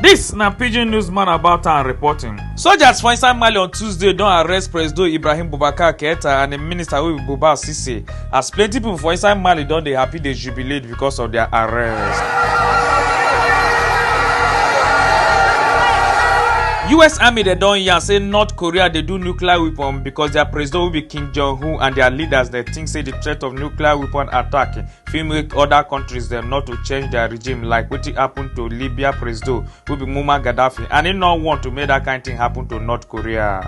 Dis na pidgin newsman about am reporting. Soldiers for inside Mali on Tuesday don arrest Presido Ibrahim Boubacar Keita and im minister wey be Buba Sise as plenty pipo for inside Mali don dey happy dey jubilate because of dia arrest. us army dem don yarn say north korea dey do nuclear weapon because dia president wey be kim jong-un and dia leaders dem think say di threat of nuclear weapon attack fit make oda kontris dem not to change dia regime like wetin happen to libya presido wey be muammar gaddafi and im no want to make dat kain tin happen to north korea.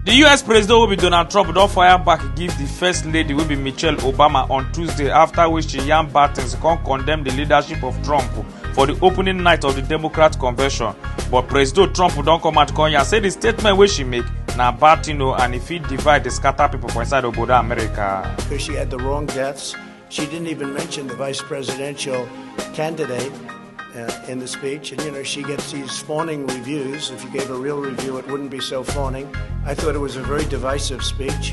di us president wey be donald trump don fire back give di first lady wey be michelle obama on tuesday afta wey she yarn bad tins come condemn di leadership of trump for di opening night of di democrat convention but presido trump don come out come yarn say di statement wey she make na bad tin o and e fit divide dey scatter pipo for inside obodo america. because she had the wrong deaths. She didn't even mention the vice presidential candidate uh, in the speech. And, you know, she gets these fawning reviews. If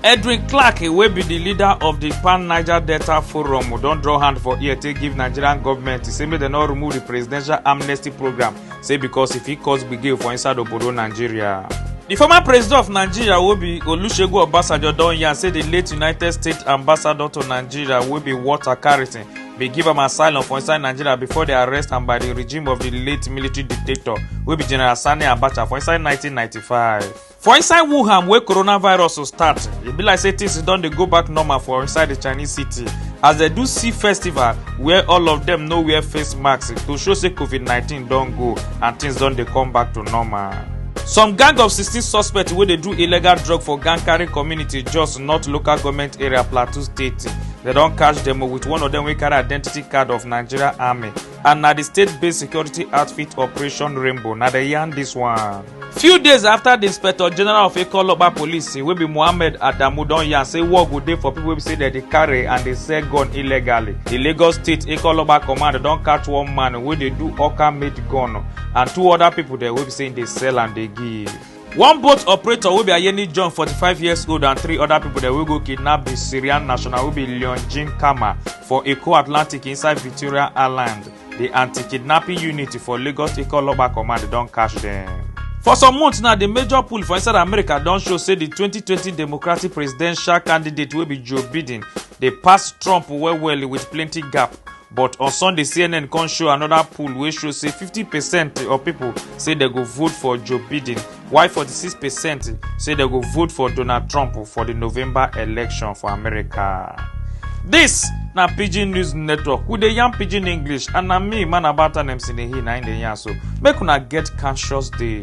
Edwin Clark wey be di leader of di Pan Niger Delta Forum don draw hand for ear take give Nigerian government to say make dem no remove di presidential amnesty program say because e fit cause gbege for inside obodo Nigeria. Di former president of Nigeria wey be Olusegun Obasanjo don yarn say di late United States ambassador to Nigeria wey be Walter Carrington They give am asylum for inside Nigeria before they arrest am by the regime of the late military dictator wey be General Sani Abacha for inside 1995. For inside Wuhan wey coronavirus start, e be like say things don dey go back normal for inside the Chinese city as dem do see festival where all of dem no wear face masks to show say COVID-19 don go and things don dey come back to normal. some gang of 16 suspects wey dey do illegal drug for gankari community jos north local goment area plateau state dem don catch dem with one of dem wey carry identity card of nigeria army and na di state-based security outfit operation rainbow na dem yarn dis one. few days afta di inspector general of ikoloba police wey be mohammed adamu don yarn say war go dey for pipo wey be say dem dey carry and dey sell gun illegally di lagos state ikoloba command don catch one man wey dey do oka made gun and two oda pipo dem wey be say dey sell and dey give. one boat operator wey be ayeni john 45 years old and three oda pipo dem wey go kidnap di syrian national wey be leon jean kama for eko atlantic inside victoria island di anti-kidnapping unit for lagos state oloba command don catch dem. for some months now di major poll for inside america don show say di 2020 democratic presidential candidate wey be joe biden dey pass trump well well wit plenty gap but on sunday cnn come show another poll wey show say 50 percent of people say dem go vote for joe biden while 46 percent say dem go vote for donald trump for di november election for america dis na pidgin news network we dey yarn pidgin english and na me man about anem sinehi na im dey yarn so make una get conscious day